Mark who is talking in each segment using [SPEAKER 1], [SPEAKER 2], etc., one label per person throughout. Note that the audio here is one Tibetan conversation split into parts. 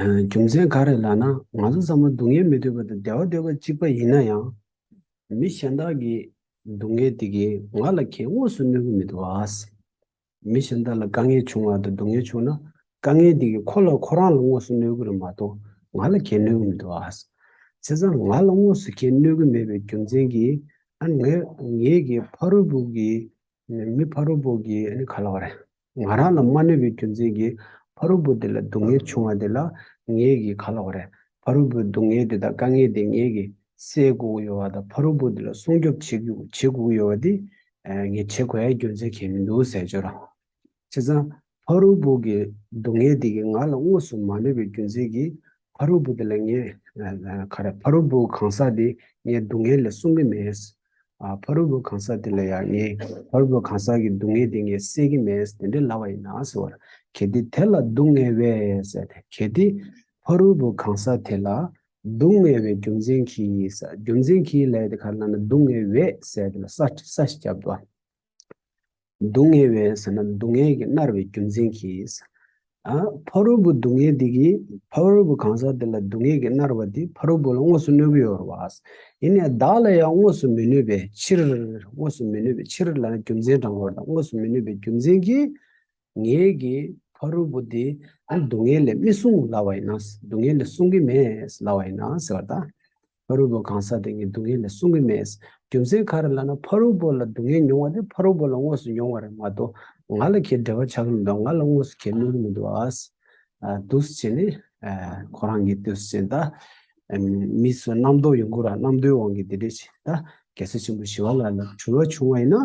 [SPEAKER 1] རྒྱུ་མཚན་ག་རེ་ལགས་ན་ང་ཚོ་ཚང་མ་སྡུག་བསྔལ་མི་འདོད་པ་དང་བདེ་བ་འདོད་པ་གཅིག་པ་ཡིན་ན་ཡང། མི་གཞན་དག་གི་སྡུག་བསྔལ་དེ་གས་ང་ལ་ཁྱེད་དངོས་སུ་གནོད་གི་མི་འདུག་ཨ། མི་གཞན་དག་ལ་དཀའ་ངལ་བྱུང་བ་དང་སྡུག་བསྔལ་བྱུང་ན་དཀའ་ངལ་དེ་གས་ཁོ་ལ་ཁོ་རང་ལ་དངོས་སུ་གནོད་གི་རེད་མ་གཏོགས་ང་ལ་ཁྱེད་གནོད་གི་མི་འདུག་ཨ། བྱས་ཙང་ང་ལ་དངོས་སུ་ཁྱེད་གནོད་གི་མེད་པའི་རྒྱུ་མཚན་གྱིས་ཨ་ངས་ངེད་ཀྱི་ཕ་རོལ་པོ་གི་མི་ཕ་རོལ་པོ་གི་ག་ལ་བ་རེད། ང་རང་ལ་མ་ནུས་པའི་རྒྱུ་མཚན་གྱིས་ཕ་རོལ་པོ་དེ་ལ་སྡུག་བསྔལ་བྱུང་བ་དེ་ལ་ངེད་ཀྱིས་ཁ་ལོག་རེད། ཕ་རོལ་པོའི་སྡུག་བསྔལ་དེ་དག་དཀའ་ངལ་དེ་ངེད་ཀྱིས་སེལ་དགོས་ཀྱི་ཡོད་བ་དང་ཕ་རོལ་པོ་དེ་ལ་སྲུང་སྐྱོབ་བྱེད་དགོས་ཀྱི་ཡོད་བ་དེ་ངས་བྱེད་དགོས་ཡ་རྒྱུ་མཚན་གྱིས་མི་འདུག་ཟེར་ཆོག་རང། བྱས་ཙང་ཕ་རོལ་པོ་གི་སྡུག་བསྔལ་དེ་གིས་ང་ལ་དངོས་སུ་མ་གནོད་པའི་རྒྱུ་མཚན་གྱིས་ཕ་རོལ་པོ་དེ་ལ་ངས། ཁ་ར་ཕ་རོལ་པོ་གང་ཟག་དེ་ངའི་སྡུག་བསྔལ་ལ་སྲུང་གི་མེད། ཕ་རོལ་པོ་གང་ཟག་དེ་ལ་ཡང་ངས་ཕ་རོལ་པོ་གང་ཟག་གི་སྡུག་བསྔལ་དེ་ངས་སེལ་གི་མེད་དེ་འདྲའི་ལ་བ་ཡིན་ན་ཟེར་བར། གལ་ཏེ་དེ་ལ་སྡུག་བསྔལ་བས། གལ་ཏེ་ཕ་རོལ་པོ་གང་ཟག་དེ་ལ། སྡུག་བསྔལ་བའི་རྒྱུ་མཚན་གྱིས། རྒྱུ་མཚན་གྱིས་ལས་དེ་ག་ལ་ན་སྡུག་བསྔལ་བས། ས་ཞེས་བྱ་བ། སྡུག་བསྔལ་བའི་ཟེར་ན་སྡུག་བསྔལ་གྱི་མནར་བའི་རྒྱུ་མཚན་གྱིས། ཕ་རོལ་པོ་སྡུག་བསྔལ་འདི་གིས་ཕ་རོལ་པོ་གང་ཟག་དེ་ལ་སྡུག་བསྔལ་གྱི་མནར་བ་འདི་ཕ་རོལ་པོ་ལ་དངོས་སུ་གནོད་གི་ཡོད་རེད། ཡིན་ནས་བདག་ལ་ཡང་དངོས་སུ་མི་གནོད་པའི་ཕྱིར། དངོས་སུ་མི་གནོད་པའི་ཕྱིར་ལ་རྒྱུ་མཚན་དྲང་བོར་དང་དངོས་སུ་མི་གནོད་པའི་རྒྱུ་མཚན་གྱིས། ངེད་ཀྱིས་ཕ་རོལ་པོ་འདི་སྡུག་བསྔལ་ལས་མི་བསྲུང་སླ་བ་ཡིན་ན་སྡུག་བསྔལ་ལས་བསྲུང་གི་མེད་སླ་བ་ཡིན་ན་ཟེར་བ་དང། ཕ་རོལ་པོ་གང་ཟག་དེ་ཉིད་སྡུག་བསྔལ་ལས་བསྲུང་གི་མེད། རྒྱུ་མཚན་ག་རེ་ལ་ན་ཕ་རོལ་པོ་ལ་སྡུག་བསྔལ་མྱོང་བ་དེ་ཕ་རོལ་པོ་ལ་དངོས་སུ་མྱོང་བ་རེད་མ་གཏོགས་ང་ལ་ཁྱེད་འབྲེལ་བ་ཆགས་ཀྱི་མི་འདུག་ང་ལ་དངོས་སུ་ཁྱེད་སྨོན་གྱི་མི་འདུག་ཨ། འདུས་བྱས་ནི། ཁོ་རང་གི་འདུས་བྱས་ད། མི་ཚོ་རྣམ་རྟོག་ཡོང་གི་ར་རྣམ་རྟོག་དབང་གིས་དེ་འདྲས་བྱས་ད། རྒྱལ་སྲས་ཆེན་པོ་ཞི་བ་ལ་ལ་འཁྲུལ་བ་བྱུང་བ་ཡིན་ན།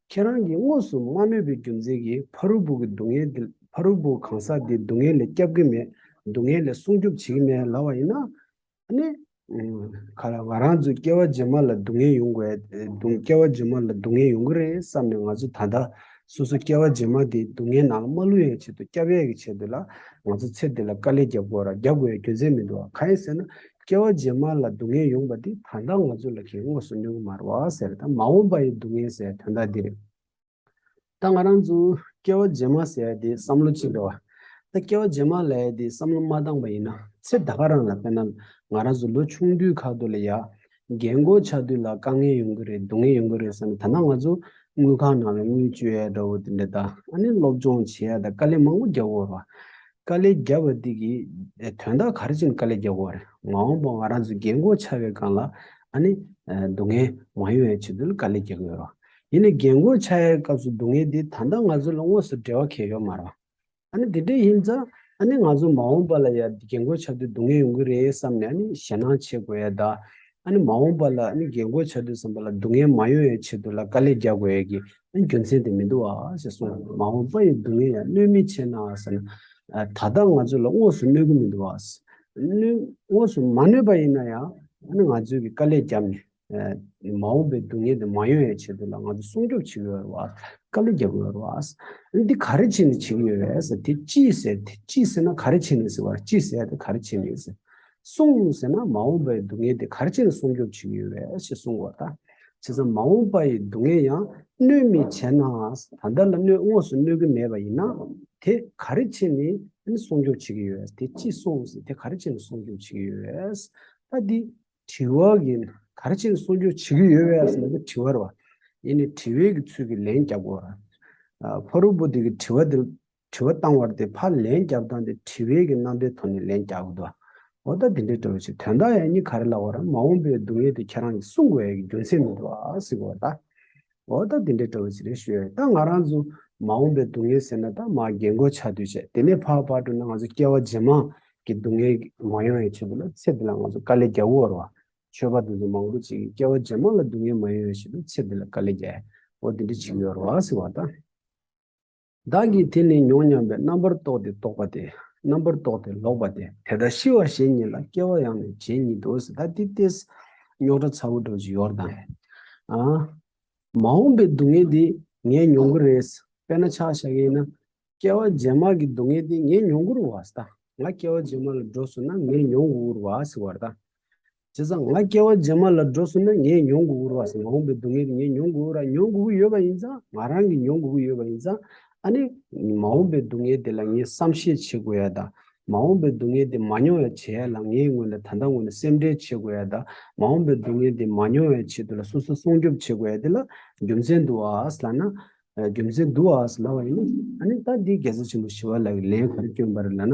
[SPEAKER 1] ཁྱེད་རང་གིས་དངོས་སུ་མ་གནོད་པའི་རྒྱུ་མཚན་གྱིས་ཕ་རོལ་པོ་གི་སྡུག་བསྔལ་དེ་ཕ་རོལ་པོ་གང་ཟག་དེའི་སྡུག་བསྔལ་ལས་སྐྱབས་ཀྱི་མེད་སྡུག་བསྔལ་ལས་སྲུང་སྐྱོབ་བྱེད་ཀྱི་མེད་ལབ་བ་ཡིན་ན། ག་ལ་ང་རང་ཚོའི་སྐྱེ་བ་རྗེས་མ་ལ་སྡུག་བསྔལ་ཡོང་གི་སྐྱེ་བ་རྗེས་མ་ལ་སྡུག་བསྔལ་ཡོང་གི་རེད་བསམ་ནས་ང་ཚོ་ད་ལྟ་སོ་སོ་སྐྱེ་བ་རྗེས་མ་དེའི་སྡུག་བསྔལ་ནང་མ་ལྷུང་ཡང་ཆེད་དུ་སྐྱབས་ཡས་ཀྱི་ཆེད་དུ་ལ་ང་ཚོ་ཚེ་འདི་ལ་དཀའ་ལས་རྒྱབ་དགོས་རྒྱབ་དགོས་ཡའི་རྒྱུ་མཚན་མི་འདུག་ག་ཡིན་ཟེར་ན་སྐྱེ་བ་རྗེས་མ་ལ་སྡུག་བསྔལ་ཡོང་པ་འདི་ད་ལྟ་ང་ཚོ་ལ་གིས་དངོས་སུ་མྱོང་གི་མ་རོ་ཟེར་ད་མ་འོངས་པ་ཡི་སྡུག་བསྔལ་ཟེར་དོན་དག་འདི་རེད། ད་ང་རང་ཚོས་སྐྱེ་བ་རྗེས་མ་ཟེར་དེ་བསམ་བློ་གཅིག་འགྲོ། ད་སྐྱེ་བ་རྗེས་མ་ལས་དེ་བསམ་བློ་མ་བཏང་པ་ཡིན་ན་ཚེ་ད་ག་རང་ལ་དཔེར་ན་ང་རང་ཚོ་ལོ་ཆུང་དུས་ཁ་དོག་ལ་ཡ། རྒན་མགོ་ཆགས་དུས་ལ་དཀའ་ངལ་ཡོང་གི་རེད་སྡུག་བསྔལ་ཡོང་གི་རེད་བསམ་ད་ནང་ང་ཚོ་དངུལ་ཁང་ནང་ལ་དངུལ་བཅོལ་ཡ་འདྲ་བོ་དེ་འདྲ་ད་ཨ་ནི་སློབ་སྦྱོང་བྱེད་ཡ་ད་དཀའ་ལས་མང་པོ་རྒྱག་དགོས་རོ། དཀའ་ལས་བརྒྱབ་པ་འདི་གི་དོན་དག་ག་རེ་བྱས་ནས་དཀའ་ལས་བརྒྱབ་དགོས་པ་རེད། མ་འོངས་པ་ང་རང་ཚོའི་རྒན་རྒོན་ཆགས་པའི་སྒང་ལ་ཨ་ནི་སྡུག་བསྔལ་མ་ཡོང་བའི་ཆེད་དུ་ལ་དཀའ་ལས་བརྒྱབ་ཀྱི་ཡོད་རེད། ཡིན་ནའི་རྒན་རྒོན་ཆགས་ཡའི་སྐབས་སུ་སྡུག་བསྔལ་འདི་ད་ལྟ་ང་ཚོ་ལ་དངོས་སུ་འབྲེལ་བ་གལ་ཡོད་མ་རེད། ཨ་ནི་དེ་འདྲས་ཡིན་ཙང་ཨ་ནི་ང་ཚོ་མ་འོངས་པ་ལ་ཡང་རྒན་རྒོན་ཆགས་དུས་སྡུག་བསྔལ་ཡོང་གི་རེད་བསམ་ནས་ཨ་ནི་ཞེད་སྣང་བྱེད་དགོས་ཡས་དང། ཨ་ནི་མ་འོངས་པ་ལ་ཨ་ནི་རྒན་རྒོན་ཆགས་དུས་བསམ་པ་ལ་སྡུག་བསྔལ་མ་ཡོང་བའི་ཆེད་དུ་ལ་དཀའ་ལས་བརྒྱབ་དགོས་ཡས་ཀྱི་རྒྱུ་མཚན་དེ་མི་འདུག་ཨ་ཞེས་གསུངས། མ་འོངས་པ་ཡི་སྡུག་བསྔལ་ཡང་གནོད་མི་བྱེད་ན་ཟེར། ད་ལྟ་ང་ཚོ་ལ་དངོས་སུ་གནོད་ཀྱི་མི་འདུག་ཨ། དངོས་སུ་མ་གནོད་པ་ཡིན་ན་ཡང་ང་ཚོས་ཀྱི་དཀའ་ལས་བརྒྱབ་ནས་མ་འོངས་པའི་སྡུག་བསྔལ་དེ་མ་ཡོང་ཡའི་ཆེད་དུ་ལ་ང་ཚོ་སྲུང་སྐྱོབ་བྱེད་ཀྱི་ཡོད་རེད་ཨ། དཀའ་ལས་བརྒྱབ་ཀྱི་ཡོད་རེད་ཨ། འདི་ག་རེ་བྱས་ནས་བྱེད་ཀྱི་ཡོད་རེད་ཟེར། དེ་ཅི་ཟེར་དེ་ཅི་ཟེར་ན་ག་རེ་བྱས་ནས་ཟེར་བ་ཅི་ཟེར་དེ་ག་རེ་བྱས་ནས་ཟེར། སོང་ཟེར་ན་མ་འོངས་པའི་སྡུག་བསྔལ་དེ་གར་ཅི་ལ་སྲུང་སྐྱོབ་བྱེད་ཀྱི་ཡོད་རེད་ཅེས་གསུངས་བ་དང། བྱས་ཙང་མ་འོངས་པ་ཡི་སྡུག་བསྔལ་ཡང་གནོད་མི་བྱེད་ནའང་ད་ལྟ་ལ་གནོད་དངོས་སུ་གནོད་ཀྱི་མེད་པ་ཡིན་ན། དེ་ག་རེ་བྱས་ནས་སྲུང་སྐྱོབ་བྱེད་ཀྱི་ཡོད་དེ་ཅི་སོང་ཟེར་དེ་ག་རེ་བྱས་ནས་སྲུང་སྐྱོབ་བྱེད་ཀྱི་ཡོད་རེད། ད་འདི་དྲི་བ་གི་ན་ག་རེ་བྱས་ནས་སྲུང་སྐྱོབ་བྱེད་ཀྱི་ཡོད་རེད་ཟེར་ན་འདི་དྲི་བར་བ་ཡིན་ནས་དྲི་བའི་གི་ཚུལ་གྱི་ལན་རྒྱབ་དགོས་རེད། ཕ་རོལ་པོ་དེ་གི་དྲི་བ་དེ་དྲི་བ་བཏང་བར་དེ་ཕར་ལན་བརྒྱབ་སྟངས་དེ་དྲི་བའི་གི་རྣམ་པའི་ཐོག་ནས་ལན་རྒྱག་དགོས་དོ། འོ་ད་དེ་འདྲའི་དྲི་བ་ཞིག་དོན་དག་ཡང་སྙིང་ག་རེ་ལ་བ་ར་མ་འོངས་པའི་སྡུག་བསྔལ་དེ་ཁྱེད་རང་གིས་གསུང་དགོས་ཡ་གི་རྒྱུ་མཚན་མི་འདུག་ཨ་སི་གོ་ད། འོ་ད་དེ་འདྲའི་དྲི་བ་ཞིག་རེ་ཞུ་ཡ་ཡིན་ད་ང་རང་ཚོ་མ་འོངས་པའི་སྡུག་བསྔལ་ཟེར་ན་ད་མ་རྒན་གོ་ཆ་དུས་ཆད་དེ་ནས་ཕར་ཕར་འགྲོ་ན་ང་ཚོ་སྐྱེ་བ་ཇེ་མང་གི་སྡུག་བསྔལ་གི་མ་ཡོང་ཡ་ཆེད་དུ་ལ་ཚེ་འདི་ལ་ང་ཚོ་དཀའ་ལས་རྒྱག་དགོས་བ་ར་བ། ཆོས་པ་དེ་ཚོ་མང་པོ་ཅིག་གིས་སྐྱེ་བ་ཇེ་མང་ལ་སྡུག་བསྔལ་མ་ཡོང་ཡ་ཞེད་དུ་ཚེ་འདི་ལ་དཀའ་ལས་རྒྱག་ཡ་འོ་དེ་འདྲའི་ཆིག་ཡོད་ར་བ་སི་གོ་ད། བདག་གིས་དེ་ལས་མྱོང་སྙམ་པའི་རྣམ་པར་རྟོག་སྟེ་རྟོག་པ་སྟེ། རྣམ་པར་རྟོག་སྟེ་ལོག་པ་སྟེ། དེ་ལྟར་ཤི་བ་གཞན་ཉིད་ལ་སྐྱེ་བ་ཡང་ནི་གཞན་ཉིད་དུ་སྲིད་ད་ཏི་ཏས། རྙོག་དྲ་ཚ་བོ་དྲོ་ཅི་ཡོར་དང། མ་འོངས་པའི་སྡུག་བསྔལ་དེ་ངས་མྱོང་གི་རེད། དཔེར་ན་ཆགས་བཞག་ཡིན་ན། སྐྱེ་བ་རྗེས་མར་གྱི་སྡུག་བསྔལ་དེ་ངས་མྱོང་གི་རུ་བ་སི་ད། ང་སྐྱེ་བ་རྗེས་མར་ལ་འགྲོ་སོང་ན་ངས་མྱོང་གི་འུ་རུ་བ་སི་བར་ད། བྱས་ཙང་ང་སྐྱེ་བ་རྗེས་མ་ལ་འགྲོ་གསུངས་ན་ངས་མྱོང་དགོས་ཀུ་རུ་བ་སེ་མ་འོངས་པའི་སྡུག་བསྔལ་ངས་མྱོང་དགོས་ཀུ་ར་མྱོང་དགོས་ཀུ་ཡོད་པ་ཡིན་ཙང་ང་རང་གིས་མྱོང་དགོས་ཀུ་ཡོད་པ་ཡིན་ཙང་ཨ་ནི་མ་འོངས་པའི་སྡུག་བསྔལ་དེ་ལ་ངས་བསམ་ཤེས་བྱེད་དགོས་ཡ་ད་མ་འོངས་པའི་སྡུག་བསྔལ་དེ་མ་མྱོང་ཡ་བྱེད་ཡ་ལ་ངས་ངོས་ནས་ད་ལྟ་ངོས་ནས་སེམས་ཁྲལ་བྱེད་དགོས་ཡ་ད་མ་འོངས་པའི་སྡུག་བསྔལ་དེ་མ་མྱོང་ཡ་ཆེད་དུ་ལ་སོ་སོ་སྲུང་སྐྱོབ་བྱེད་དགོས་ཡ་དེ་ལ་རྒྱུ་མཚན་འདུག་ཨཱས་ལ་ན། རྒྱུ་མཚན་འདུག་ཨཱས་ལ་བ་ཡིན་ན་ཨ་ནི་ད་འདི་རྒྱལ་སྲས་ཆེན་པོ་ཞི་བ་ལགས་ཀྱི་ལན་ག་རེ་བསྐྱོན་པ་རེད་ལ་ན།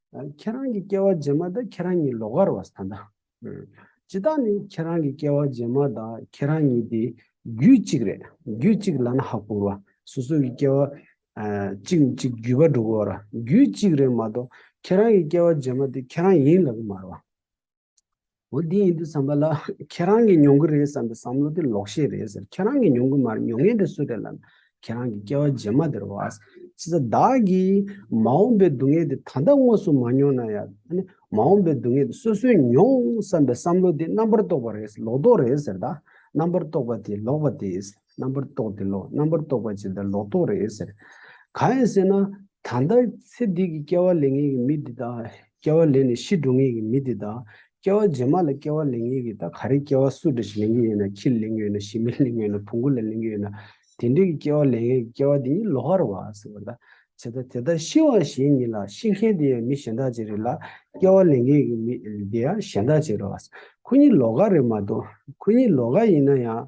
[SPEAKER 1] ཁྱེད་རང་གི་སྐྱེ་བ་རྗེས་མ་དང་ཁྱེད་རང་གཉིས་ལོག་གར་བ་ད་ལྟ། ཇི་ལྟར་ནི་ཁྱེད་རང་གི་སྐྱེ་བ་རྗེས་མ་དང་ཁྱེད་རང་གཉིས་དེ་རྒྱུད་གཅིག་རེད་རྒྱུད་གཅིག་ལ་ན་ཧ་གོ་བ་སོ་སོ་གི་སྐྱེ་བ་གཅིག་ནས་གཅིག་བརྒྱུད་པ་འགྲོ་གོ་བ་ར་རྒྱུད་གཅིག་རེད་མ་གཏོགས་ཁྱེད་རང་གི་སྐྱེ་བ་རྗེས་མ་དེ་ཁྱེད་རང་ཡིན་ལབ་གི་མ་ར་བ། འོ་འདི་ཡིན་འདུག་བསམ་པ་ལ་ཁྱེད་རང་གིས་མྱོང་གི་རེད་བསམ་པའི་བསམ་བློ་དེ་ལོག་ཤེས་རེད་ཟེར་ཁྱེད་རང་གིས་མྱོང་གི་མ་རེད་མྱོང་མཁན་དེ་སུ་རེད་ལབ་ཁྱེད་རང་གི་སྐྱེ་བ་རྗེས་མ་དེར་བ། ཅི་ཟེར་བདག་གིས་མ་འོངས་པའི་སྡུག་བསྔལ་དེ་ད་ལྟ་དངོས་སུ་མ་མྱོང་ན་ཡང། མ་འོངས་པའི་སྡུག་བསྔལ་དེ་སོ་སོས་མྱོང་བསམ་པའི་བསམ་བློ་དེ་རྣམ་པར་རྟོག་པ་རེད་ཟེར་ལོག་རྟོག་རེད་ཟེར་ད་རྣམ་པར་རྟོག་པ་དེ་ལོག་པ་དེ། རྣམ་པར་རྟོག་དེ་ལོག་རྣམ་པར་རྟོག་པ་ཇི་ལྟར་ལོག་རྟོག་རེད་ཟེར། གང་ཡིན་ཟེར་ན། ད་ལྟ་ཚེ་འདི་གི་སྐྱེ་བ་ལེན་ངེས་ཀྱི་མི་འདི་དག། སྐྱེ་བ་ལེན་ནས་ཤི་འགྲོ་ངེས་ཀྱི་མི་འདི་དག། སྐྱེ་བ་རྗེས་མ་ལ་སྐྱེ་བ་ལེན་ངེས་ཀྱི་ད་ག་རེ་སྐྱེ་བ་སུ་འདྲ་ཞིག་ལེན་གྱི་ཡོད་ན་ཁྱི་ལ་ལེན་གྱི་ཡོད་ན་ཞི་མིར་ལེན་གྱི་ཡོད་ན་བུ་འགོ་ལ་ལེན་གྱི་ཡོད་ན། དེ་འདྲ་གི་སྐྱེ་བ་ལེན་ངེས་ཀྱི་སྐྱེ་བ་དེ་ཉིད་ལོག་ཨ་ར་བ་ཟེར་བ་ལྟ། ཇི་ལྟར་དེ་ལྟར་ཤི་བ་གཞན་ཉིད་ལ་ཤི་མཁན་དེ་ཡང་མི་གཞན་དག་ཅིག་རེད་ལ། སྐྱེ་བ་ལེན་མཁན་གྱི་མི་དེ་ཡང་གཞན་དག་ཅིག་རེད་བ། ཁོ་གཉིས་ལོག་ཨ་རེད་མ་གཏོགས། ཁོ་གཉིས་ལོག་ཨ་ཡིན་ན་ཡང།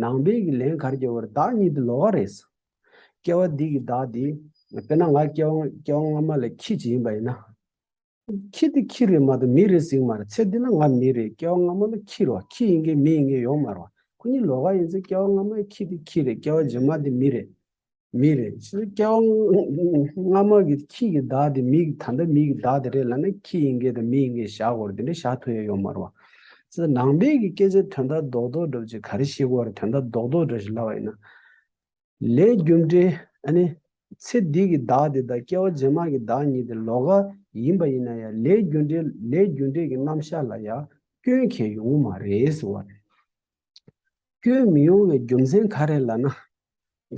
[SPEAKER 1] ནང་པའི་གི་ལན་གར་སྐྱེ་བར་བདག་ཉིད་དུ་ལོག་ག་རེ་ཟ། སྐྱེ་བ་འདི་གི་བདག་དེ། དཔེར་ན་ང་སྐྱེ་བ་སྐྱེ་བ་སྔ་མ་ལ་ཁྱི་ཇི་ཡིན་པ་ཡིན་ན། ཁྱི་དེ་ཁྱི་རེད་མ་གཏོགས་མི་རེད་ཟིག་མ་རེད་ཚེ་འདི་ན་ང་མི་རེད་སྐྱེ་བ་སྔ་མ་ལ་ཁྱི་རོ་ཁྱི་ཡིན་གི་མི་ཡིན་གི་ཡོང་མ་རོ། ཁོ་གཉིས་ལོག་ག་ཡིན་ཚེ་སྐྱེ་བ་སྔ་མ་ཡི་ཁྱི་དེ་ཁྱི་རེད་སྐྱེ་བ་རྗེས་མ་དེ་མི་རེད་མི་རེད། སྐྱེ་བ་སྔ་མ་གི་ཁྱི་གི་བདག་དེ་མི་གི་ད་ལྟ་མི་གི་བདག་དེ་རེད་ལ་ན་ཁྱི་ཡིན་གྱི་དང་མི་ཡིན་གྱི་བཞག་དགོར་དེ་འདྲ་བཞག་ཐུ་ཡ་ཡོད་མ་རུང་བ། ནང་པའི་གི་སྐད་ཆ་དོན་དག་རྡོག་རྡོག་འདྲ་བྱེད་ག་རེ་ཤེས་གོ་རེ་དོན་དག་རྡོག་རྡོག་འདྲ་ཞིག་ལབ་པ་ཡིན་ན། ལས་རྒྱུ་འབྲས་ཨ་ནི། ཚེ་འདི་གི་བདག་དེ་དང་སྐྱེ་བ་རྗེས་མ་གི་བདག་གཉིས་དེ་ལོ་ག་ཡིན་པ་ཡིན་ན་ཡང་ལས་རྒྱུ་འབྲས་ལས་རྒྱུ་འབྲས་གི་རྣམ་བཞག་ལ་ཡང་སྐྱོན་གལ་ཡོང་གི་མ་རེད་ཟེར་བ་རེད། སྐྱོན་མི་ཡོང་བའི་རྒྱུ་མཚན་ག་རེད་ལ་ན།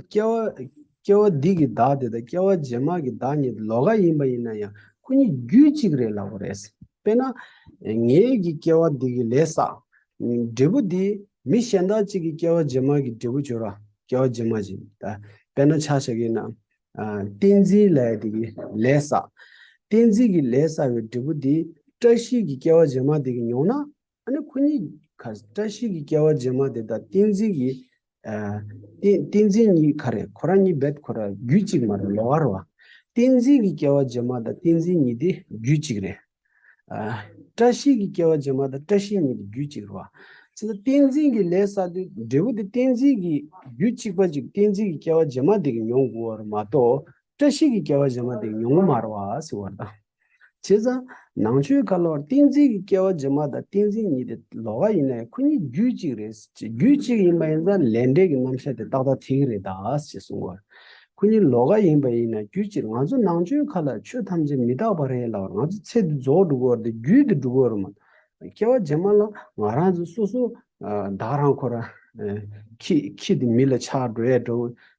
[SPEAKER 1] སྐྱེ་བ་སྡིག་གི་བདག་དེ་དང་སྐྱེ་བ་རྗེས་མ་གི་བདག་གཉིས་ལོ་ག་ཡིན་པ་ཡིན་ན་ཡང་ཁོ་གཉིས་རྒྱུད་གཅིག་རེད་ལ་བོ་རེད། དཔེར་ན། ངེད་ཀྱི་སྐྱེ་བ་འདི་གི་ལས་བསགས། འབྲས་བུ་འདི། མི་གཞན་དག་ཅིག་གི་སྐྱེ་བ་རྗེས་མ་གི་འབྲས་བུ་སྦྱོར་བ། སྐྱེ་བ་རྗེས་མ་བཞིན། དཔེར་ན་ཆ་བྱ་གིན་ན། ཏིང་འཛིན་ལས་དེ་གི་ལས་བསགས། ཏིང་འཛིན་གི་ལས་བསགས་པའི་འབྲས་བུ་འདི། བཀྲ་ཤིས་ཀྱི་སྐྱེ་བ་རྗེས་མ་དེ་གི་མྱོང་ན། ཨ་ནི་ཁོ་གཉིས་ཁ་བཀྲ་ཤིས་ཀྱི་སྐྱེ་བ་རྗེས་མ་དེ་དང་བསྟན་འཛིན་གྱི། བསྟན་འཛིན་གཉིས་ཁ་རེད་ཁོ་རང་གཉིས་རྦད་ཁོ་རང་རྒྱུད་གཅིག་མ་རེད་ལོག་ཨ་རོ། བསྟན་འཛིན་གྱི་སྐྱེ་བ་རྗེས་མ་དང་བསྟན་འཛིན་གཉིས་དེ་རྒྱུད་གཅིག་རེད། བཀྲ་ཤིས་ཀྱི་སྐྱེ་བ་རྗེས་མ་དང་བཀྲ་ཤིས་གཉིས་དེ་རྒྱུད་གཅིག་རེད། བསྟན་འཛིན་གྱི་ལས་བསགས་དུས་འབྲས་བུ་དེ་བསྟན་འཛིན་གྱི་རྒྱུད་གཅིག་པ་ཅིག་བསྟན་འཛིན་གྱི་སྐྱེ་བ་རྗེས་མ་དེ་གིས་མྱོང་དགོས་བ་རེད་མ་གཏོགས་བཀྲ་ཤིས་ཀྱི་སྐྱེ་བ་རྗེས་མ་དེ་གིས་མྱོང་གི་མ་རེད་བ། བྱས་ཙང། ནང་ཆོས་ཁ་ལོར་ཏིང་འཛིན་གྱི་སྐྱེ་བ་རྗེས་མ་དང་ཏིང་འཛིན་གཉིས་དེ་ལོག་ག་ཡིན་ནའི་ཁོ་གཉིས་རྒྱུད་གཅིག་རེད་ཅེས་རྒྱུད་གཅིག་ཡིན་པ་ཡིན་ཙང་ལས་འབྲས་ཀྱི་རྣམ་བཤད་དེ་ཏག་ཏག་ཐིག་རེད་ད་ཅེས་གསུངས་བར། ཁོ་གཉིས་ལོག་ག་ཡིན་པ་ཡིན་ན་རྒྱུད་གཅིག་ང་ཚོ་ནང་ཆོས་ཁ་ལ་ཆོས་ཐམས་ཅད་མི་རྟག་པ་རེད་ལ་ང་ཚོ་ཚེ་འདི་རྫོགས་འགྲོ་བར་དེ་རྒྱུད་འདི་འགྲོ་བར་མ་གཏོགས་སྐྱེ་བ་རྗེས་མ་ལ་ང་རང་ཚོ་སོ་སོ་བདག་རང་ཁོ་རང་ཁྱི་ཁྱི་དེ་མི་ལ་ཆགས་འགྲོ་ཡས་འགྲོ་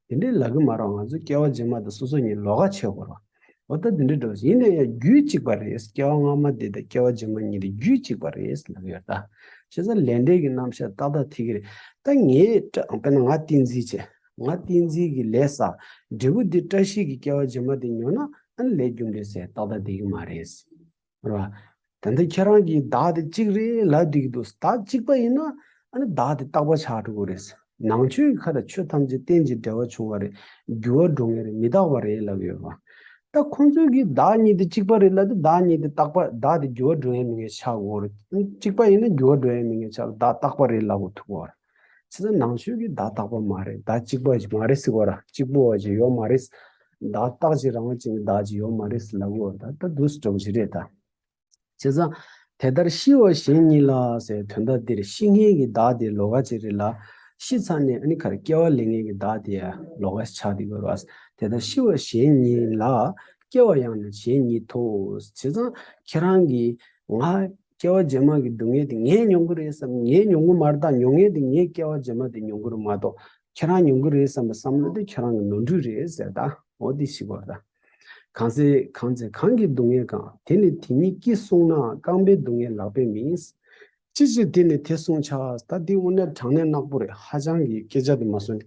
[SPEAKER 1] དེ་འདྲས་ལབ་གི་མ་རོགས་ང་ཚོ་སྐྱེ་བ་རྗེས་མ་དེ་སོ་སོ་གཉིས་ལོག་ག་བྱེད་དགོས་རོགས། འོ་ད་དེ་འདྲ་འགྲོ་ཡིན་ན་ཡང་རྒྱུད་གཅིག་པ་རེད་སྐྱེ་བ་སྔ་མ་དེ་དང་སྐྱེ་བ་རྗེས་མ་གཉིས་དེ་རྒྱུད་གཅིག་པ་རེད་ལབ་ཡོད་ད། བྱས་ཙང་ལས་འབྲས་ཀྱི་རྣམ་བཤད་ཏག་ཏག་ཐིག་གི་རེད་ད་ངས་བཀྲ་དཔེར་ན་ང་ཏིང་འཛིན་བྱས་ང་ཏིང་འཛིན་གྱི་ལས་བསགས་འབྲས་བུ་དེ་བཀྲ་ཤིས་ཀྱི་སྐྱེ་བ་རྗེས་མ་དེ་ཉོ་ན་ཨ་ནི་ལས་རྒྱུ་འབྲས་ཟེར་ཏག་ཏག་དེ་ཡིན་མ་རེད། རེད་བ། དེ་འདི་ཁྱེད་རང་གིས་བདག་དེ་གཅིག་རེད་ལབ་བསྡིགས་འདུག་བདག་གཅིག་པ་ཡིན་ན་ཨ་ནི་བདག་དེ་རྟག་པ་ཆགས་འགྲོ་གི་རེད། ནང་ཆོས་ཀྱི་ཁ་ལ་ཆོས་ཐམས་ཅད་རྟེན་གྱི་འབྲེལ་བ་བྱུང་བ་རེད་འགྱུར་བ་འགྲོ་ངེས་རེད་མི་རྟག་པ་རེད་ལབ་ཡོད་བ། ད་ཁོང་ཚོས་གིས་བདག་གཉིས་དེ་གཅིག་པ་རེད་ལབ་སྟེ་བདག་གཉིས་དེ་རྟག་པ་བདག་དེ་འགྱུར་བ་འགྲོ་ངེས་མི་ངེས་ཆགས་དགོས་རེད། གཅིག་པ་ཡིན་ན་འགྱུར་བ་འགྲོ་ཡ་མི་ངེས་ཆགས་ལ་བདག་རྟག་པ་རེད་ལབ་དགོས་ཐུག་བར། ཚིག་ན་ནང་ཆོས་ཀྱི་བརྡ་རྟག་པ་མ་རེད་བརྡ་གཅིག་པ་ཞིག་མ་རེད་ཟེར་བ་ར་གཅིག་པོ་བ་ཞིག་ཡོད་མ་རེད། བརྡ་རྟག་ཅིག་རང་བ་ཅིག་ནི་བརྡ་ཅིག་ཡོད་མ་རེད་ལབ་དགོས་བ་ད་ད་དུས་སུ་འགྲོ་གི་ཞིག་རེད་ད། བྱས་ཙང། དེ་ལྟར་ཤི་བ་གཞན་གཉིས་ལ་ཟེར་དོན་ད་འདིར་ཤི་ངེས་ཀྱི་བརྡ་དེ་ལོ་ཀ་ཅིག་རེད་ལ། ཤི་ཚར་ནས་ཨ་ནི་ཁར་སྐྱེ་བ་ལེན་ངེས་ཀྱི་བརྡ་དེ་ཡང་ལོ་ཀ་ཆགས་འདི་དགོས་རོགས། དེ་ལྟར་ཤི་བ་གཞན་གཉིས་ལ། སྐྱེ་བ་ཡང་ན་གཞན་གཉིས་དོ། བྱས་ཙང་ཁྱེད་རང་གིས། ང། སྐྱེ་བ་རྗེས་མ་གི་སྡུག་བསྔལ་དེ་ངས་མྱོང་གི་རེད་བསམ་ངས་མྱོང་གི་མར་ད་མྱོང་ངན་དེ་ངས་སྐྱེ་བ་རྗེས་མ་དེ་མྱོང་གི་རུ་མ་གཏོགས་ཁྱེད་རང་མྱོང་གི་རེད་བསམ་པ་བསམ་བློ་དེ་ཁྱེད་རང་གི་ནོར་འཁྲུལ་རེད་ཟེར་ད་འོ་དེ་ཞིག་གོ་ད། གང་ཚེ་གང་ཚེ་གང་གི་སྡུག་བསྔལ་གང་དེ་ནི་དེ་ཉིད་ཀྱིས་གསུངས་ནའང་རྐང་པའི་སྡུག་བསྔལ་ལག་པས་མིན། ཅི་ཕྱིར་དེ་ནི་དེ་གསུངས་ཆགས་ད་དེ་དབུ་ནལ་དྲང་ནལ་ནག་པོ་རེད་ཧ་ཅང་གི་སྐད་ཆ་དེ་མ་གསུངས།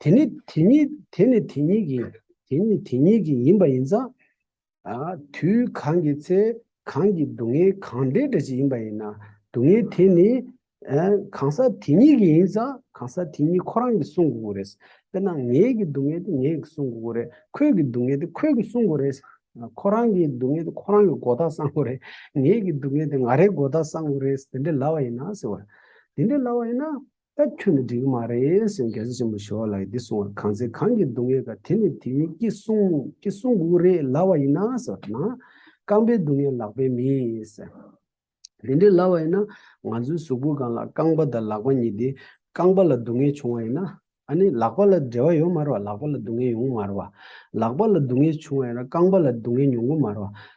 [SPEAKER 1] དེ་ནི་དེ་ཉིད་དེ་ནི་དེ་ཉིད་ཀྱི་དེ་ནི་དེ་ཉིད་ཀྱི་ཡིན་པ་ཡིན་ཙང། དུས་གང་གི་ཚེ་གང་གི་སྡུག་བསྔལ་གང་འདྲའི་འདྲ་ཅི་ཡིན་པ་ཡིན་ན་སྡུག་བསྔལ་དེ་ནི། གང་ཟག་དེ་ཉིད་ཀྱི་ཡིན་ཙང་གང་ཟག་དེ་ཉིད་ཁོ་རང་གིས་བསྲུང་དགོས་ཀྱི་རེད། དཔེར་ན་ངའི་གི་སྡུག་བསྔལ་དེ་ངས་གིས་བསྲུང་དགོས་ཀྱི་རེད། ཁོའི་གི་སྡུག་བསྔལ་དེ་ཁོས་གིས་བསྲུང་དགོས་རེད། ཁོ་རང་གི་སྡུག་བསྔལ་དེ་ཁོ་རང་གིས་མགོ་ཐག་གསང་དགོས་རེད། ངའི་གི་སྡུག་བསྔལ་དེ་ང་རེས་མགོ་ཐག་གསང་དགོས་རེད་དེ་འདྲའི་ལབ་པ་ཡིན་ན་ཟེར་བ། དེ་འདྲའི་ལབ་པ་ཡིན་ན། ད་ཁྱོད་ནི་འགྲིག་གི་མ་རེད་ཟེར་རྒྱལ་སྲས་ཆེན་པོ་ཞི་བ་ལ་ཡིས་འདི་གསུང་བར་གང་ཚེ་གང་གིས་སྡུག་བསྔལ་དགའ་དེ་ནི་དེ་ཡིན་ཀྱི་གསུང་ཀྱི་གསུང་འགུགས་རེ་ལ་བ་ཡིན་ན་ཟེར་བ་ན། རྐང་པའི་སྡུག་བསྔལ་ལག་པས་མིས། དེ་འདྲེ་ལ་བ་ཡིན་ན་ང་ཚོའི་གཟུགས་པོ་གང་ལ་རྐང་པ་དང་ལག་པ་གཉིས་ཏེ། རྐང་པ་ལ་སྡུག་བསྔལ་བྱུང་བ་ཡིན་ན། ཨ་ནི་ལག་པ་ལ་འབྲེལ་བ་ཡོད་མ་རེད་བ་ལག་པ་ལ་སྡུག་བསྔལ་ཡོང་གི་མ་རེད་བ། ལག་པ་ལ་སྡུག་བསྔལ་བྱུང་བ་ཡིན་ན་རྐང་པ་ལ་སྡུག་བསྔལ་མྱོང་གི་མ་རེད་བ།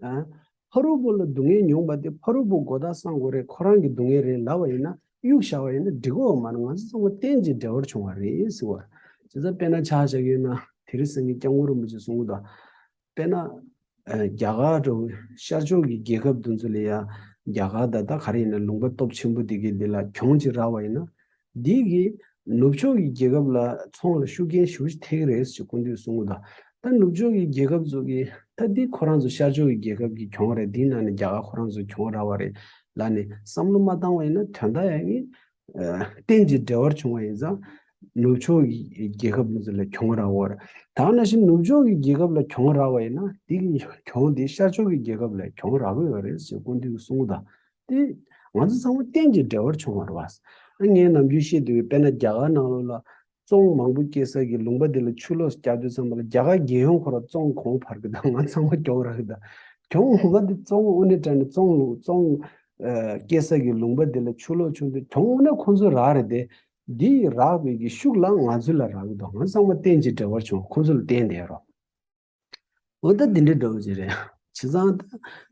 [SPEAKER 1] ཕ་རོལ་པོ་ལ་སྡུག་བསྔལ་མྱོང་པ་དེ་ཕ་རོལ་པོ་མགོ་དག་སང་དགོས་རེད་ཁོ་རང་གི་སྡུག་བསྔལ་རེད་ལབ་པ་ཡིན་ན་གཡུག་བཞག་པ་ཡིན་ན་འགྲིག་གོ་མ་ན་ང་ཚོ་ཚང་མ་རྟེན་གྱི་འབྲེལ་བར་བྱུང་བ་རེད་ཟེར་བ། བྱས་ཙང་དཔེར་ན་ཆ་བཞག་ཡོད་ན་དེ་རིང་སང་གི་སྐྱབས་མགོན་རིན་པོ་ཆེ་གསུང་གི་དོན་དཔེར་ན་རྒྱ་གར་དུ་ཤར་ཕྱོགས་ཀྱི་རྒྱལ་ཁབ་དུ་ཚོ་ལ་ཡ་རྒྱ་གར་ད་ད་ག་རེ་ཡིན་ན་ལུང་པ་སྟོབས་ཆེན་པོ་དེ་གའི་དེ་ལ་གྱོང་གཅིག་རག་པ་ཡིན་ན་སྡེ་དགེ། ནུབ་ཕྱོགས་ཀྱི་རྒྱལ་ཁབ་ལ་ཚོང་ལ་ཤུགས་རྐྱེན་ཞུགས་ཐེག་རེད་ཅེས་སྐུ་མདུན་གསུང་ལ། ད་ནུབ་ཕྱོགས་ཀྱི་རྒྱལ་ཁབ་ཚོ་གི་ད་འདི་ཁོ་རང་ཚོ་ཤར་ཕྱོགས་ཀྱི་རྒྱལ་ཁབ་ཀྱི་གྱོང་རེད་འདི་ནང་ནས་རྒྱ་གར་ཁོ་རང་ཚོ་གྱོང་ར་བ་རེད་ལ་ནས་བསམ་བློ་མ་བཏང་བ་ཡིན་ན་དོན་དག་ཡང་ངེས། གཏན་གྱི་འབྲེལ་བར་བྱུང་བ་ཡིན་ཙང། ནུབ་ཕྱོགས་ཀྱི་རྒྱལ་ཁབ་མི་ཚོ་ལ་གྱོང་ར་བོར། ད་ང་ན་བཞིན་ནུབ་ཕྱོགས་ཀྱི་རྒྱལ་ཁབ་ལ་གྱོང་ར་བ་ཡིན་ན་འདི་གི་གྱོང་འདི་ཤར་ཕྱོགས་ཀྱི་རྒྱལ་ཁབ་ལ་གྱོང་ར་གོ་ཡོད་རེད་ཅེས་སྐུ་མདུན་གསུང་ལ། ཏེ། ང་ཚོ་ཚང་མ་གཏན་གྱི་འབྲེལ་བར་བྱུང་བར་བ། ངས་ནམ་རྒྱུན་བཤད་དུ་ཡོད་དཔེར་ན་རྒྱ་གར་ནང་ལོ་ལ་ཙོང་མང་པོ་སྐྱེས་ས་གི་ལུང་པ་དེ་ལ་ཆུ་ལོགས་སུ་བསྐྱར་ཟློས་ཙམ་པ་ལ་རྒྱ་གར་རྒྱལ་ཡོངས་འཁོར་བ་ཙོང་གོང་འཕར་གི་དང་ང་ཚང་མ་གྱོང་རག་གི་དང་གྱོང་ངོ་མ་དེ་ཙོང་དབུ་ནས་དྲན་ནས་ཙོང་ལུང་ཙོང་སྐྱེས་ས་གི་ལུང་པ་དེ་ལ་ཆུ་ལོགས་བྱུང་དུས་གྱོང་ངོ་ན་ཁོང་ཚོའི་རག་རེད་དེ། དེ་ཡི་རག་པའི་གི་ཤུགས་ལའང་ང་ཚོའི་ལ་རག་གི་དང་ང་ཚང་མ་གཏན་གྱི་འབྲེལ་བར་བྱུང་བ་ཁོང་ཚོ་ལ་བསྟན་བསྡད་རོགས། འོ་ད་འདི་འདྲའི་འདྲ་བོ་ཅི་རེད། བྱས་ཙང་ད་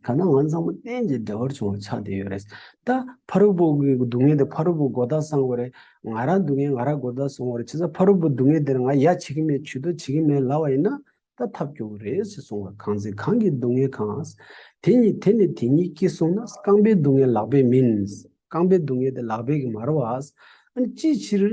[SPEAKER 1] ག་ན་ང་ཚང་མ་གཏན་གྱི་འདྲ་བར་བྱུང་བ་ཆགས་བསྡད་ཡོད་རེད། ད་ཕ་རོལ་པོ་གི་སྡུག་བསྔལ་དེ་ཕ་རོལ་པོ་མགོ་ཐག་སྲང་བ་རེད། ང་རང་སྡུག་བསྔལ་ང་རང་མགོ་ཐག་སྲོང་བ་རེད་བྱས་ཙང་ཕ་རོལ་པོ་སྡུག་བསྔལ་དེར་ང་ཡ་བྱེད་ཀྱི་མེད་བྱུས་གཏོགས་བྱེད་ཀྱི་མེད་ལབ་བ་ཡིན་ན་ད་ཐབས་སྐྱོ་བོ་རེད་ཅེས་གསུངས་པ་གང་ཚེ་གང་གི་སྡུག་བསྔལ་གང། དེ་ཉིད་དེ་ནི་དེ་ཉིད་ཀྱིས་གསུངས་ན་རྐང་པའི་སྡུག་བསྔལ་ལག་པས་མིན། རྐང་པའི་སྡུག་བསྔལ་དེ་ལག་པས་ཀྱིས་མ་རོ། འོན་ཅིའི་ཕྱིར།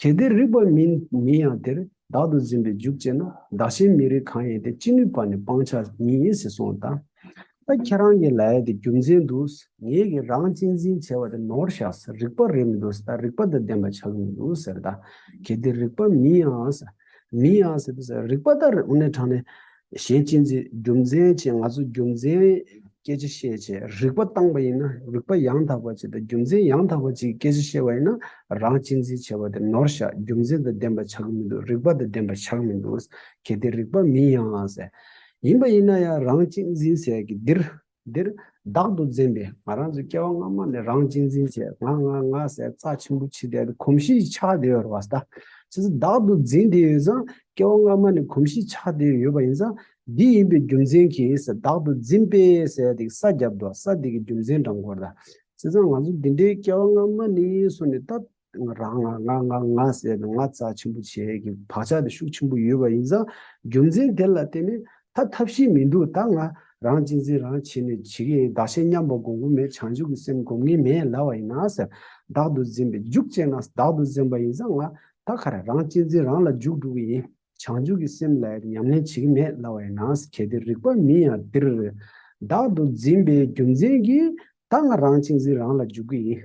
[SPEAKER 1] གལ་ཏེ་རིགས་པ་མིན་མིན་ཡང་དེར་བདག་ཏུ་འཛིན་པའི་འཇུག་ཅེ་ན་བདག་གཞན་མི་རིགས་གང་ཡིན་ཏེ་ཅི་ནུས་པ་ནི་སྤང་བྱ་ཉིད་ཡིན་ཟེར་སོང་ད། ད་ཁྱེད་རང་གི་ལའི་དེ་རྒྱུ་མཚན་དུ་ངེད་ཀྱིས་རང་གཅེས་འཛིན་བྱས་པ་དེ་ནོར་བཞག་རིགས་པ་རེད་མི་འདུག་ད་རིགས་པ་དང་ལྡན་པ་ཆགས་ཀྱི་མི་འདུག་ཟེར་ད། གལ་ཏེ་རིགས་པ་མིན་ཡང། མིན་ཡང་ཟེར་དུས་རིགས་པ་ད་རེ་འོ་ན་དྲང་ནས། གཞན་གཅེས་འཛིན་རྒྱུ་མཚན་བཅས་ང་ཚོ་རྒྱུ་མཚན་སྐད་ཆ་བཤད་བྱས་རིག་པ་བཏང་བ་ཡིན་ན་རིག་པ་ཡང་དག་པ་བྱས་དང་རྒྱུ་མཚན་ཡང་དག་པ་བཅས་ཀྱི་སྐད་ཆ་བཤད་པ་ཡིན་ན་རང་གཅེས་འཛིན་བྱས་པ་དེ་ནོར་བཤགས་རྒྱུ་མཚན་དང་ལྡན་པ་ཆགས་ཀྱི་མི་འདུག་རིག་པ་དང་ལྡན་པ་ཆགས་མི་འདུག་གལ་ཏེ་རིག་པ་མིན་ཡང་ཡིན་པ་ཡིན་ན་ཡང་རང་གཅེས་འཛིན་ཟེར་གི་འདིར་འདིར་བདག་ཏུ་འཛིན་པའི་ང་རང་ཚོའི་སྐྱེ་བ་སྔ་མ་ནས་རང་གཅེས་འཛིན་བྱས་ང་ང་ང་ཟས་རྩ་ཆེན་པོ་འཆི་ལྟས་དེ་གོམས་གཤིས་ཆགས་བསྡད་ཡོད་རེད་བ་ཟ་ད་ཕྱིས་སུ་བདག་ཏུ་འཛིན་བསྡད་ཡོད་ཙང་སྐྱེ་བ་སྔ་མ་ནས་གོམས་གཤིས་ཆགས་བསྡད་ཡོད་པ་ཡིན་ཙང་འདི་ཡིན་པའི་རྒྱུ་མཚན་གྱིས་བདག་ཏུ་འཛིན་པས་ཟས་དེ་ས་བརྒྱབ་འདུག་ཟ་དེ་གི་རྒྱུ་མཚན་འདྲ་མགོ་ཟླ་བྱས་ཙང་ང་ཚོ་འདི་འདྲའི་སྐྱེ་བ་སྔ་མ་ནས་སོང་ནས་ད། རང་ང་ང་ང་ང་ཟེར་ནས་ང་རྩ་ཆེན་པོ་བྱེད་ཀྱི་བག་ཆགས་དེ་ཤུགས་ཆེན་པོ་ཡོད་པ་ཡིན་ཙང་རྒྱུ་མཚན་དེ་ལ་བརྟེན་ནས་ད་ཐབས་ཤེས་མི་འདུག་ད་ང་རང་གཅེས་འཛིན་རང་བྱེད་ནས་བྱེད་ཀྱི་ཡིན་བདག་ཞེ་མཉམ་པ་སྒོམ་གི་མེད་བྱང་ཆུབ་ཀྱི་སེམས་སྒོམ་གི་མེད་ལབ་པ་ཡིན་ན་ཟེར་བདག་ཏུ་འཛིན་པའི་རྒྱུག་བཅད་ན་བདག་ཏུ་འཛིན་པ་ཡིན་ཙང་ང་ད་ག་རེ་རང་གཅེས་འཛིན་རང་ལ་རྒྱུག་འགྲོ་གི་ཡིན་བྱང་ཆུབ་ཀྱི་སེམས་ལ་ཉམས་ལེན་བྱེད་ཀྱི་མེད་ལབ་པ་ཡིན་ན་གལ་ཏེ་རིག་པ་མིན་ཡང་འདིར་བདག་ཏུ་འཛིན་པའི་རྒྱུ་མཚན་གྱིས་ད་ང་རང་གཅེས་འཛིན་རང་ལ་རྒྱུག་གི་ཡིན།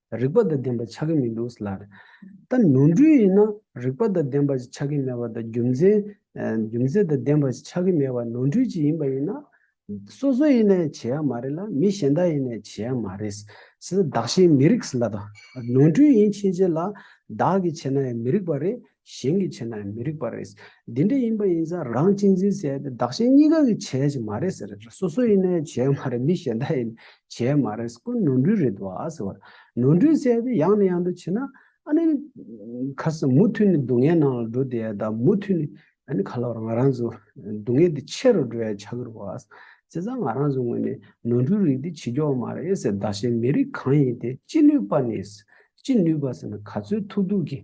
[SPEAKER 1] རིག་པ་དང་ལྡན་པ་ཆགས་ཀྱི་མི་འདུག་ལར། ད་ནོར་འཁྲུལ་ཡིན་ན་རིག་པ་དང་ལྡན་པ་ཞིག་ཆགས་ཀྱི་མེད་པ་དང་རྒྱུ་མཚན། རྒྱུ་མཚན་དང་ལྡན་པ་ཞིག་ཆགས་ཀྱི་མེད་པ་ནོར་འཁྲུལ་ཅིག་ཡིན་པ་ཡིན་ན། སོ་སོ་ཡིན་ནའི་བྱེད་ཡག་མ་རེད་ལ་མི་གཞན་དག་ཡིན་ནའི་བྱེད་ཡག་མ་རེད། བདག་གཞན་མི་རིགས་ལ། ནོར་འཁྲུལ་ཡིན་ཕྱིན་ཆད་ལ་བདག་གིས་བྱས་ན་ཡང་མི་རིགས་པ་རེད། གཞན་གྱིས་བྱས་ན་མི་རིགས་པ་རེད། འདི་འདྲ་ཡིན་པ་ཡིན་ས་རང་གཅེས་འཛིན་བྱས་ཏེ་བདག་གཞན་གཉིས་ཀ་གིས་བྱས་ཀྱི་མ་རེད་ཟེར་རེད་སོ་སོ་ཡིན་ནའི་བྱས་མ་རེད་མི་གཞན་དག་ཡིན་ནའི་བྱས་མ་རེད་ཟེར་ཀོ་ནོར་འཁྲུལ་རེད་བ་ཟེར་བར་ནོར་འཁྲུལ་བྱས་ཏེ་ཡང་ནས་ཡང་དུ་བྱས་ན་ཨ་ནི་ཁ་སང་མུ་མཐུད་ནས་སྡུག་བསྔལ་ནང་ལ་འགྲོ་དེ་ད་མུ་མཐུད་ནས་ཨ་ནི་ཁ་ལོ་བར་ང་རང་ཚོ་སྡུག་བསྔལ་དེ་ཆེ་རུ་འགྲོ་ཡ་ཆགས་ཀྱི་རེད་བ། བྱས་ཙང་ང་རང་ཚོ་ངོས་ནས་ནོར་འཁྲུལ་རིགས་དེ་བྱེད་རྒྱུ་བ་མ་རེད་ཟེར་བདག་གཞན་མི་རིགས་གང་ཡིན་དེ་ཅི་ནུས་པ་ནས་ཅི་ནུས་པ་ཟེར་ན་ག་ཚོད་ཐུག་ཐུག་གིས་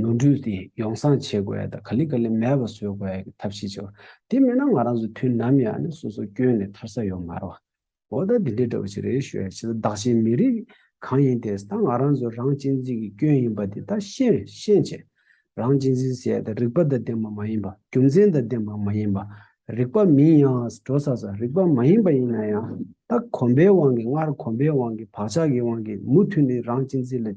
[SPEAKER 1] ནོར་འཁྲུལ་དེ་ཡོང་སྲང་བྱེད་དགོས་དང་ག་ལི་ག་ལི་མེད་པ་བཟོས་དགོས་ཀྱི་ཐབས་ཤེས་བྱེད་དགོས། དེ་མེད་ན་ང་རང་ཚོ་དུས་ནམ་ཡང་ནས་སོ་སོ་སྐྱོན་ནས་ཐར་ས་ཡོད་མ་རེད། འོ་ད་འདི་འདྲ་འདྲ་བོ་ཞིག་རེད་ཞུ་ཡ་བྱས་ད་བདག་གཞན་མི་རིགས་གང་ཡིན་དེས་ད་ང་རང་ཚོ་རང་གཅེས་འཛིན་གྱི་སྐྱོན་ཡིན་པ་དེ་ད་ཤེས་ཤེས་བྱེད། རང་གཅེས་འཛིན་ཟེར་ཡ་ད་རིག་པ་ད་ལྡན་པ་མ་ཡིན་པ་རྒྱུ་མཚན་ད་ལྡན་པ་མ་ཡིན་པ། རིག་པ་མིན་ཡང་འགྲོ་ས་ས་རིག་པ་མ་ཡིན་པ་ཡིན་ན་ཡང་ད་གོམས་པའི་དབང་གིས་སྔར་གོམས་པའི་དབང་གིས་བག་ཆགས་ཀྱི་དབང་གིས་མུ་མཐུད་ནས་རང་གཅེས་འཛིན་ལ